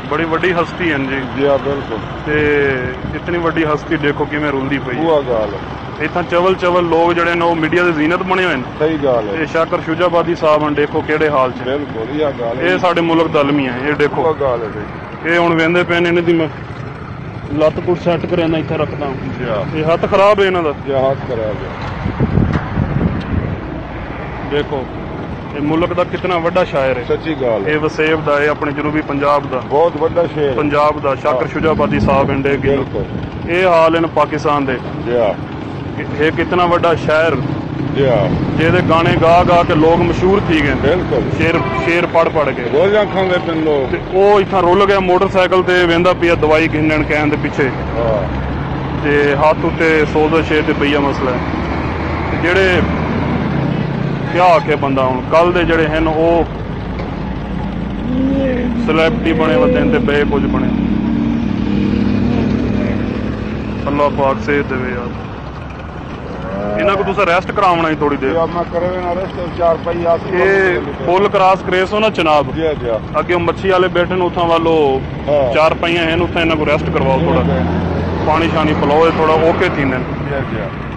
بڑی وڈی ہستی ہن جی۔ جی ہا بالکل۔ تے اتنی وڈی ہستی ڈیکھو کیویں روندی پئی ہے۔ اوہا گالھ ہے۔ اتھاں چول چول لوگ جیڑھے ہن او میڈیا دی زینت بنے ہوئے ہن۔ صحیح گالھ ہے۔ اے شاکر شجاع آبادی صاحب ہن ڈیکھو کیڑھے حال اچ ہن۔ بالکل ایہا گالھ ہے۔ اے ساڈے ملک دا المیہ ہے۔ اے ڈیکھو۔ اوہا گالھ ہے بھئی۔ اے ہن ویندے پئے ہن انہاں دی میں لت کٹ سیٹ کرینداں اتھاں رکھداں۔ جی ہا۔ اے ہتھ خراب ہے انہاں دا۔ جی ہا ہتھ خراب ہے۔ ڈیکھو۔ اے ملک دا کتنا وڈا شاعر اے۔ سچی گالھ اے۔ اے وسیب دا اے اپنڑے جنوبی پنجاب دا۔ بہت وڈا شعر اے۔ پنجاب دا۔ شاکر شجاع آبادی صاحب ہن ڈے کلو۔ بلکل۔ اے حال ہن پاکستان دے۔ جیا۔ اے کتنا وڈا شاعر۔ جیا۔ جیدے گانے گا گا کے لوگ مشہور تھی گئن۔ بلکل۔ شعر شعر پڑھ پڑھ کے۔ گولیاں کھاندے پن لوگ۔ تے او اتھاں رل گیا موٹر سائیکل تے ویندا پیا دوائی گھننڑ کہن دے پچھے۔ ہا۔ تے ہتھ اتے سوزش اے تے بئیا مسئلہ اے۔ تے جیڑھے۔ کیا آکھے بندہ ہن کل دے جیڑھے ہن او سلیبٹی بݨے ودین تے بئے کجھ بݨین۔ اللہ پاک صحت ڈیوے یار۔ انہاں کوں تساں ریسٹ کراوݨا ہی تھوڑی دیر۔ اے پل کراس کریسو نا چناب اگے او مچھی آلے بیٹھن اتھاں ول او چار پائیاں ہن اتھاں انہاں کوں ریسٹ کرواؤ تھوڑا پانی شانی پلاؤ اے تھوڑا اوکے تھیندن۔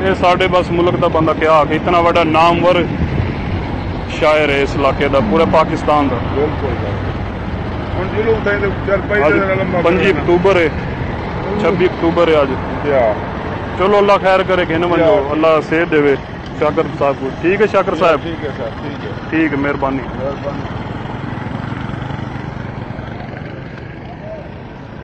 اے ساڈے بس ملک دا بندہ کیا آکھے اتنا وڈا نامور شاعر ہے اس علاقے دا پورے پاکستان دا پنجی اکتوبر ہے چھبی اکتوبر ہے اج چلو اللہ خیر کرے گھن ونجو اللہ صحت دے شاکر صاحب کو ٹھیک ہے شاکر صاحب ٹھیک ہے صاحب ٹھیک ہے مہربانی مہربانی